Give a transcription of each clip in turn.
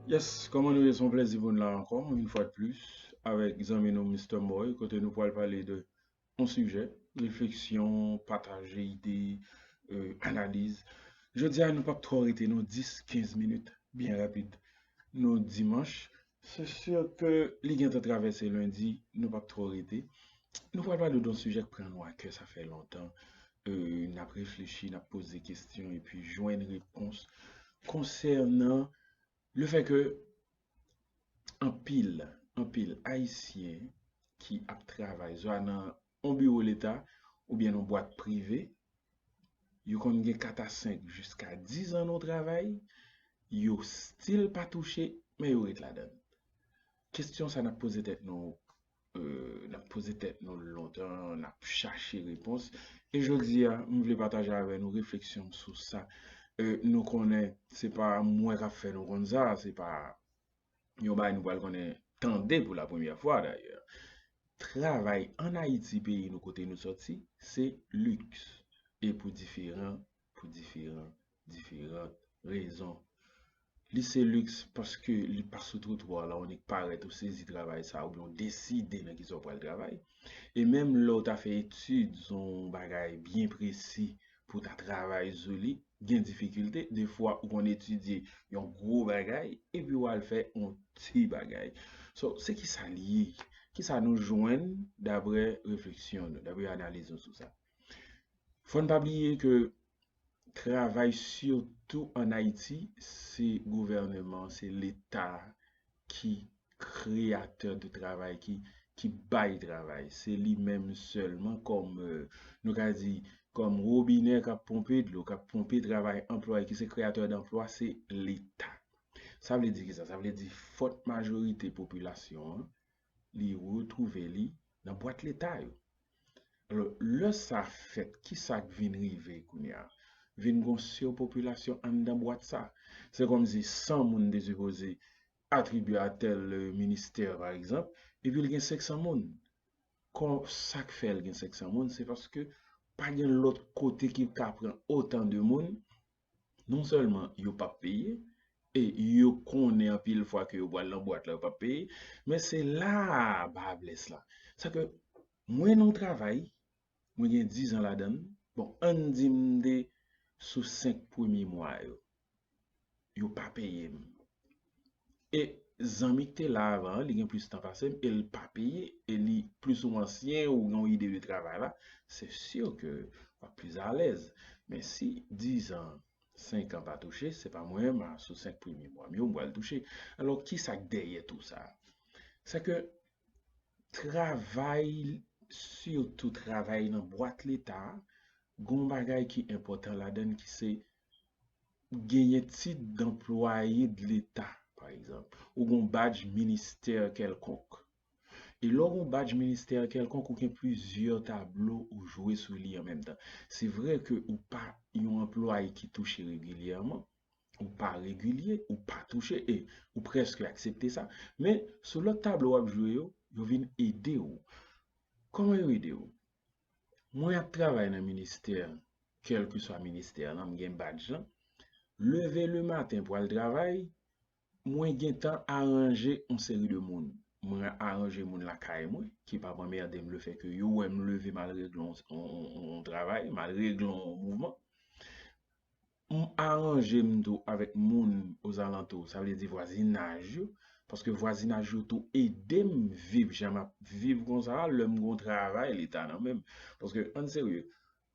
Yes, kòman nou ye son plèzi pou nou la ankò, yon fwa de plis, avèk zanmi nou Mister Moy, kote nou pwal pale de yon sijè, refleksyon, pataje ide, euh, analiz. Jodi a nou pap twò rete non, 10, 15 minit, byen rapid. Nou dimanch, Se sur ke li gentan travèse lundi, nou pap twò rete. Nou pral pale don sijè k pran nou a kè sa fè lontan, n ap reflechi, n ap poze kesyon epi jwenn repons konsènan le fè ke anpil, anpil ayisyen ki ap travay zwa nan On biwo leta oubyen non bwat prive, yo konn gen 4 a 5 jiska 10 an non travay, yo stil pa touche men yo ret ladann. Kestyon sa nap poze tèt nou nap poze tèt nou lontan, nap chache repons e jodi a m vle pataje avè nou refleksyon m sou sa. Nou konnen se pa mwen kap fè nou konn sa, se pa. yon bagay nou pral konnen tande pou la premyè fwa dayè. Travay an Ayiti peyi nou kote nou sòti se liks e pou diferan, pou diferan, diferan rezon. Li se liks paske li pa sou twotwa la ou nèk parèt ou sezi travay sa oubyen ou deside nan kisa ou pral travay. E menm lè ou ta fè etid sou yon bagay byen presi pou ta travay sou li gen difikilte defwa ou konn etidye yon gwo bagay epi wal fè yon ti bagay so se kisa li ye kisa nou jwenn daprè refleksyon nou daprè analiz nou sou sa fòn pa bliye ke travay sitou an ayiti se gouvèneman se leta ki kreyatè de travay, ki bay travay. Se li menm sèlman kòm, nou ka di, kòm wobinè k ap ponpe dlo, k ap ponpe travay anplwaye, ki se kreyatè danplwa, se Leta. Sa vle di ki sa? Sa vle di fòt majorite popilasyon an, li retrouve li nan bwat leta yo. Alò, lè sa fèt, ki sa k vin rive kounye a? Vin gen yon sirpopilasyon anndan bwat sa. Se kòmsi 100 moun te sipoze atribye a tèl ministè pa egzanp, epi l gen 500 moun. Kò, sa k fè l gen 500 moun, se paske pa gen lòt kote ki ka pran otan de moun, non sèlman yo pap peye e yo konnen anpil fwa ke yo pwal nan bwat la yo pap peye men se la ba blès la sa ke mwen nan yon travay mwen gen 10 an ladan bon ann di m de sou 5 premye mwa yo yo pa peye m e zanmi ki te la avan an li gen plis tan pase m e l pa peye e li plis ou mwen ansyen ou gen yon ide de travay la se sur ke w ap plis alèz men si dizan senkan pa touche se pa mwen menm sou senk premye mwa m yo m pral touche alò ki sa k dèyè tou sa se ke travay sitou travay nan bwat leta gon bagay ki enpòtan ladann ki se genyen tit danplwaye de leta pa egzanp, ou gen yon badj ministè kèlkonk. E lè w gen yon badj ministè kèlkonk ou gen plizyè tablo ou jwe sou li an menm tan. Se vre ke ou pa yon anplwaye ki touche regilyèman, ou pa regilye, ou pa touche e ou prèske aksepte sa, men sou lòt tablo w ap jwe yo, yo vin ede w. Kòman yo ede w? Mwen ap travay nan ministè, kèlkeswa ministè an, m gen badj lan, leve le maten pou al travay, mwen gen tan aranje yon seri de moun. Mwen aranje moun lakay mwen ki pa p anmède m lefèke yo wè m leve m al regle yon travay, m al regle yon mouvman. M aranje m tou avèk moun ozalantou, sa vle di vwazinaj yo, paske vwazinaj yo tou ede m viv jan m ap viv konsa a lè m gen yon travay leta nan men m. Paske ann serye,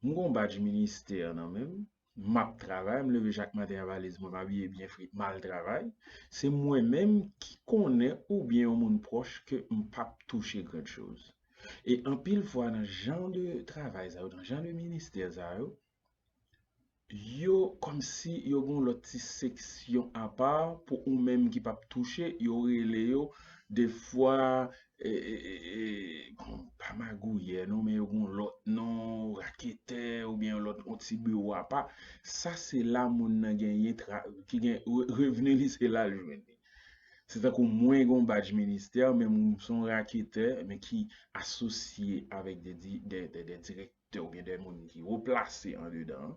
m gen yon badj ministè nan men m, m ap travay, m leve chak maten a valiz mwen, m abiye byen fre, m al travay. Se mwen menm ki konnen oubyen yon moun pwòch ke m p ap touche grand chose. E anpil fwa nan jan de travay sa yo, nan jan de ministè sa yo, Yo kòmsi yo gen yon lòt ti seksyon apa pou ou menm ki pap touche yo rele yo defwa pa magouyè non men yo gen yon lòt non raketè oubyen yon lòt yon ti biwo apa sa se la moun nan genyen ki gen revni li se la jwenn li se tankou mwen gen yon badj ministè men m son raketè men ki asosye avèk de direktè te ou gen de moun ki wo plase andedan an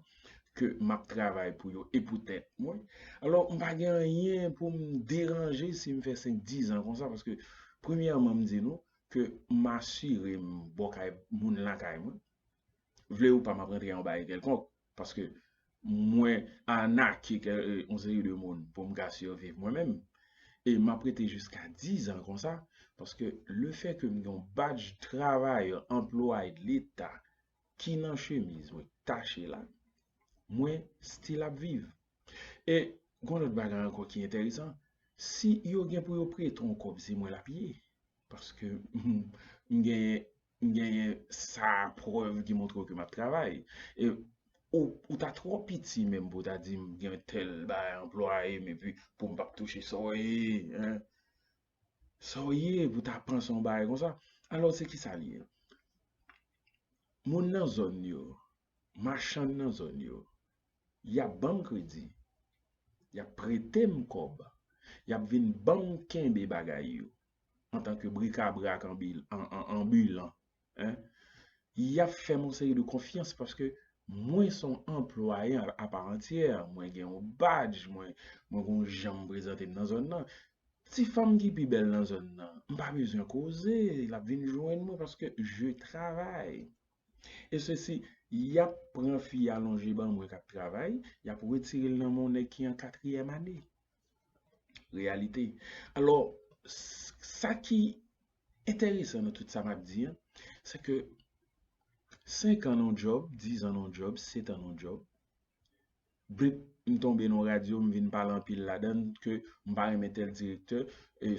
ke m ap travay pou yo e pou tèt mwen. Alò, m pa gen anyen pou m deranje si m fè senk dizan konsa paske premyèman m di nou ke m asire m bò kay moun lakay mwen. Vle ou pa m ap rantre anba yon kèlkonk. Paske mwen arnake kè yon seri de moun pou m ka siviv mwen menm. E m ap rete jiska dizan konsa. Paske le fè ke m gen yon badj travayè, anplwaye de leta ki nan chemiz mwen tache la, mwen stil ap viv. E gon lòt bagay ankò ki enteresan, si yo gen pou yo prete yon kòb se mwen l ap ye. Paske m genyen M genyen sa a prèv ki montre w ke m ap travay. E ou ta twò piti menm pou w ta di m gen tèl bagay anplwaye m epi pou m pa p touche sa w ye. Hein? Sa w ye pou w ta panse yon bagay konsa? Alò se kisa l ye? Moun nan zòn yo, machann nan zòn yo, y ap ban m kredi, y ap prete m kòb, y ap vin ban m kenbe bagay yo. antan ke brikabra ak anbilan, y ap fè m yon seri de konfyans paske mwen se yon anplwaye aparantyè, mwen gen yon badj, mwen gen yon jan m prezante m nan zòn nan. Ti fanm ki pi bèl nan zòn nan, m pa bezwen koze, l ap vin jwenn mwen paske je travay. E se si y ap pran fi a lonje ban mwen k ap travay, y ap retire l nan men yon nèg ki an katriyèm ane. Reyalite. Alò, sa ki enteresan nan tout sa m ap di an, se ke senkan nan yon djòb, dizan nan yon djòb, setan nan yon djòb, blup, m tonbe nan yon radyo, m vin pale anpil ladan l ke m pa renmen tèl direktè,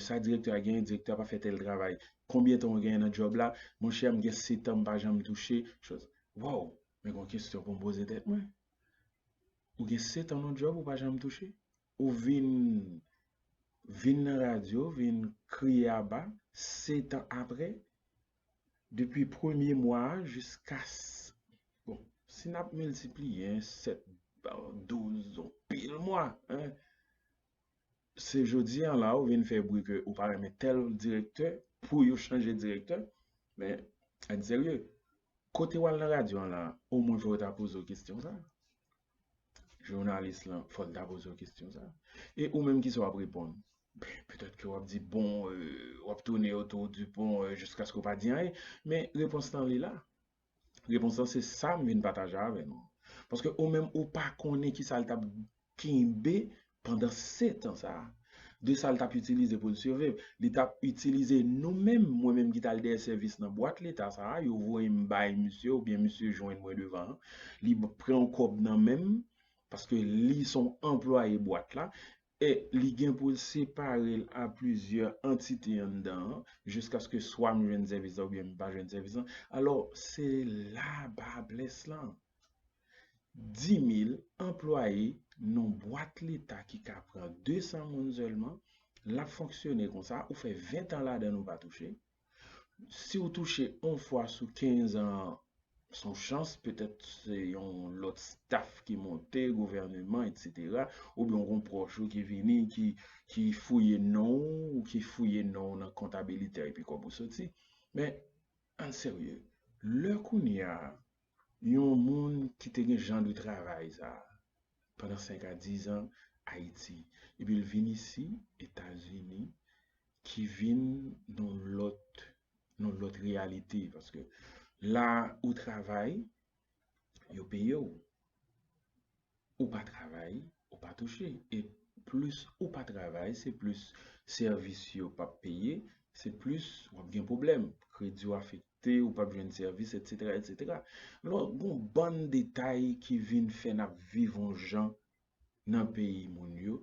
sa direktè a genyen, direktè a pa fè tèl travay. Konbyen tan ou genyen nan djòb la? Monchè, m gen setan m pa janm touche. Waww! Men gen yon kesyon pou m poze tèt mwen. Ou gen 7 ans nan job ou pa janm touche? Ou vin vin nan radio vin kriye aba 7 ans aprè depi premye mwa a jiska bon si nap miltipliye 7 an 12 an pil mwa hein. Se jodi an la ou vin fè bri ke ou pa renmen tèl direktè pou yo chanje direktè. Men, ann serye, kote wal nan radyo an la, omwen fò yo ta poze w kestyon sa. Jounalis lan, fò l ta poze w kestyon sa. E ou menm kisa w ap reponn? Petèt ke w ap di bon, w ap tounen otou di bon jiskaske w pa di anyen. Men, repons lan li la. Repons lan se sa m vin pataje avè nou. Paske ou menm ou pa konnen ki sa l t ap kenbe pandan setan sa a. De sa l t ap itilize pou l siviv. Li t ap itilize nou menm, mwen menm ki t al dèyè sèvis nan bwat leta sa a, yo voye m bay misye oubyen misye jwenn mwen devan an. Li pran yon kòb nan men m, paske li s on anplwaye bwat la. e li gen pou l separe l a plizyè antite anndan an, jiskaske swa m jwenn sèvis la oubyen m pa jwenn sèvis la, alò se la ba blès lan. Di mil anplwaye nan bwat leta ki ka pran 200 moun sèlman, l ap fonksyone konsa, ou fè ventan ladan l ou pa touche, Si w touche on fwa sou 15 an son chans, petèt se yon lòt staf ki monte, gouvèneman etc. Oubyen w gon pwòch ou ki vini ki fouye non w, ou ki fouye non w nan kontabilite a epi kòb ou soti. Men, ann serye, lè kounya Yon moun ki te gen jan de travay sa a pandan 5 a 10 an Ayiti, epi l vin isi, Etazini, ki vin yon lòt, yon lòt reyalite. Paske la ou travay, yo peye w. ou pa travay ou pa touche e plis ou pa travay se plis sèvis yo pap peye se plis wap gen pwoblèm kredi w afekte ou pap jwenn sèvis etc etc lò gon bann detay ki vin fè nap viv yon jan nan peyi moun yo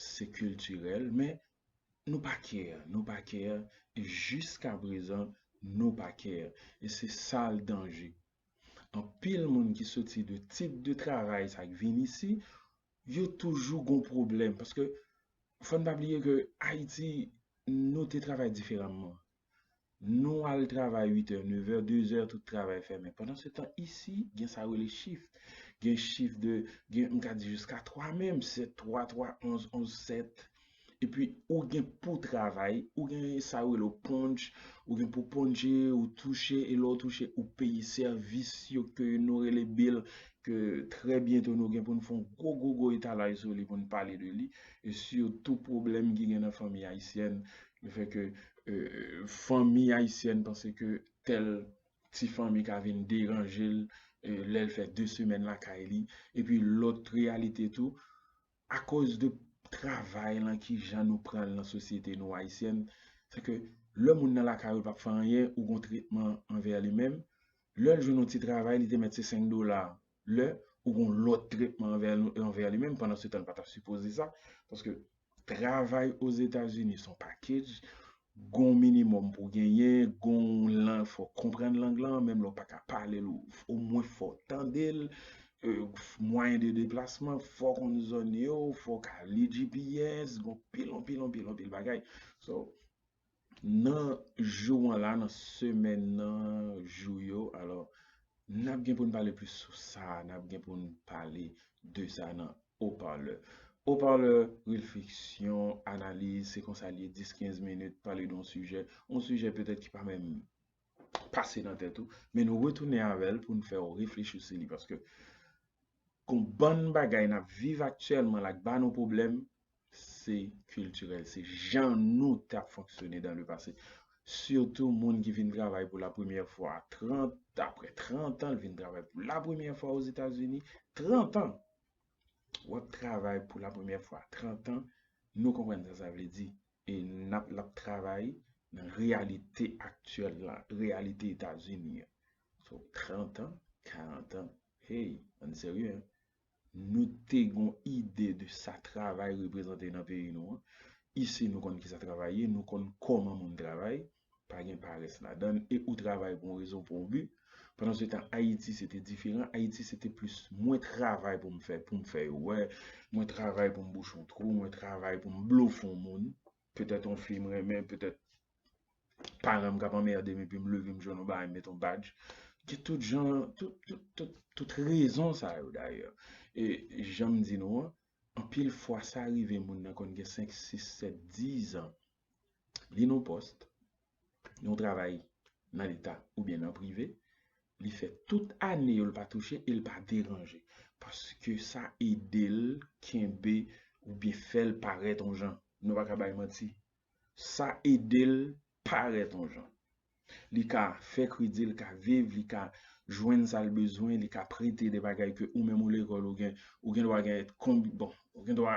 se kiltirèl men nou pa kè nou pa kè jiskaprezan nou pa kè e se sal danje Anpil moun ki soti de tit de travay sa k vin isi, yo toujou gon pwoblèm paske fòn pa bliye ke Ayiti nou te travay diferamman. Nou al travay uitè, nevè, dezè tout travay fèmen. Pandan se tan isi gen sa yo rele chif. Gen chif de, gen m ka di jiska twa menm, sèt twa, twa onz, onz sèt. epi ou gen pou travay, ou gen sa yo rele w ponj, ou gen pou ponje, ou touche, e lè w touche ou peye sèvis yo ke nou rele bill, ke trè byento nou gen pou n fè yon gwo gwo gwo etalaj sou li pou n pale de li, e sitou pwoblèm ki gen nan fanmi ayisyèn, le fè ke fanmi ayisyèn panse ke tèl ti fanmi ka vin deranje l, lè l fè de semèn lakay li, epi lòt reyalite tou, a koz de travay lan ki jan nou pranl nan sosyete nou ayisyèn se ke lè moun nan lakay ou li pap fè anyen ou gon tretman anvè li menm lèl jwenn yon ti travay li te mèt se 5 dola lè ou gon lòt tretman anvè li menm pandan se tan li pa ta sipoze sa paske travay ozetazini son package Gon minimum pou genyen, gon lan fò konprann lang lan, menm lè w pa ka pale l o mwen fò tande l, mwayen de deplasman, fò konn zòn yo, fò ka li GPS, gon pil anpil anpil anpil bagay. So, nan jou an la, nan semèn nan, jou yo, alò, N ap gen pou n pale plis sou sa a, n ap gen pou n pale de sa nan Haut-Parleur. Haut-Parleur, Refleksyon, analiz, se konsa l ye, 10, 15 minit, pale de yon sijè, yon sijè petèt ki pa menm pase nan tèt ou, men nou retounen avè l pou n fè w reflechi sou li paske gon bann bagay n ap viv aktyèlman la k ba nou pwoblèm, se kiltirèl, se jan nou t ap fonksyone dan le pase. Sitou moun ki vin travay pou la premyè fwa a 30, apre 30 an l vin travay pou la premyè fwa o Zetazini, 30 an! W ap travay pou la premyè fwa a 30 an, nou konprann sa sa vle di. E n ap l ap travay nan reyalite aktyèl la, reyalite Etazini an. So 30 an, 40 an, hey, ann serye an. nou te gon ide de sa travay reprezante nan peyi nou an. Isi nou konn ki sa travay ye, nou konn kòman moun travay, pa gen parès ladan l e ou travay pou yon rezon, pou yon bi. Pandan se tan Ayiti se te diferan, Ayiti se te plis mwen travay pou m fè, pou m fè yo wè, mwen travay pou m bouche yon twou, mwen travay pou m blofon moun. Petèt yon fi m renmen, petèt paran m k ap anmède m epi m leve m jwenn yon bagay m met yon badge. Gen tout jan, tout rezon sa yo dayè. E jan m di nou an, anpil fwa sa rive moun nan konn gen 5, 6, 7, 10 an. Li nan yon pòs, yon travay nan leta oubyen nan prive, li fè tout ane yo l pa touche e l pa deranje paske sa ede l kenbe oubyen fè l parèt yon jan. Nou pa ka bay manti. Sa ede l parèt yon jan. Li ka fè kredi, li ka viv, li ka jwenn sa l bezwen, li ka prete de bagay ke ou menm ou lekòl ou gen, ou gen dwa gen konbi, bon, ou gen dwa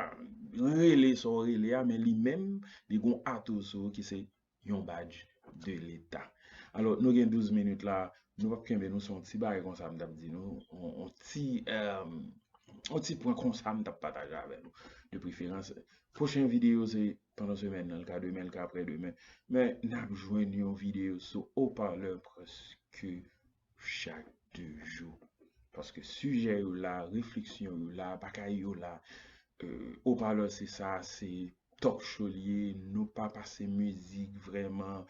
rele sa w rele a men li menm li gen yon ato sou ou ki se yon badge de leta. Alò nou gen 12 minutes la, nou pap kenbe nou son ti bagay konsa m tap di nou, on ti on ti pwen konsa m tap pataje avè nou. De preferans, pwochen videyo se pandan semèn nan, li ka demen, li ka aprè demen, men nap jwenn yon videyo sou haut-parleur prèske chak 2 jou. Paske sijè yo la, refleksyon yo la, bagay yo la. Ou pa lò se sa, se top show li ye. Nou pa pase mizik vreman,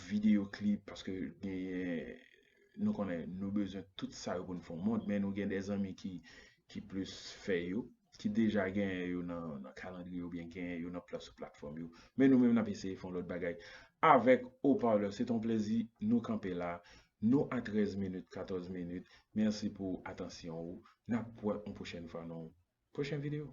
video clip, paske nou konnen nou bezwen tout sa yo pou nou fè yon moun. Men nou gen de zanmi ki plis fè yo. ki deja genyen yo nan kalandriye yo oubyen genyen yo nan plas sou platfòm yo. Men nou menm n ap eseye fè yon lòt bagay avèk Haut-Parleur. Se t on plezi nou kanpe la. Nou a 13 minit, 14 minit. Mèsi pou atansyon ou. N ap wè yon pwochèn fwa nan yon pwochen videyo.